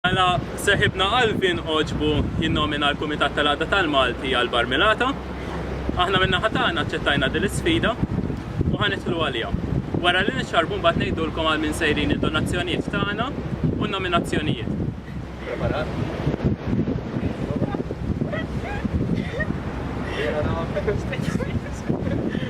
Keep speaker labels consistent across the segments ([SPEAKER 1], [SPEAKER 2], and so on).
[SPEAKER 1] Mela, seħibna Alvin Oġbu jinnomina l-Kumitat tal-Għada tal-Malti għal Barmilata. Aħna minna ħatana ċettajna din l-sfida u ħanitlu għalija. Wara li nixxarbu mbagħad ngħidulkom għal min sejrin id-donazzjonijiet tagħna u n-nominazzjonijiet. Preparat?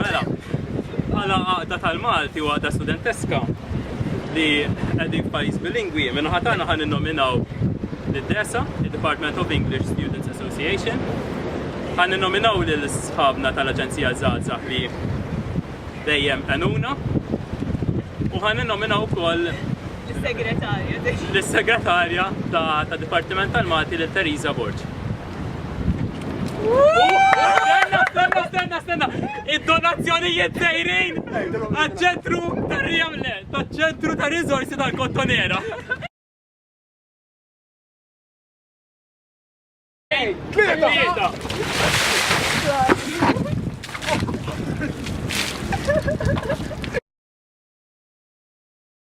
[SPEAKER 1] Mela, għala għaqda tal-Malti u għaqda studenteska li għedin pajis bilingwi, minna ħatana ħan nominaw l-DESA, il-Department of English Students Association, ħan nominaw l-sħabna tal-Aġenzija Zaza li dejjem għanuna, u ħan nominaw kol Lis-Segretarja. Lis-Segretarja ta' Dipartiment tal-Malti lil Teresa Borg. Stenna, stenna, stenna! Id-donazzjonijiet dejrin għal-ċentru tar-riamle, tal-ċentru tar-rizorsi tal-kottonera. Tlieta!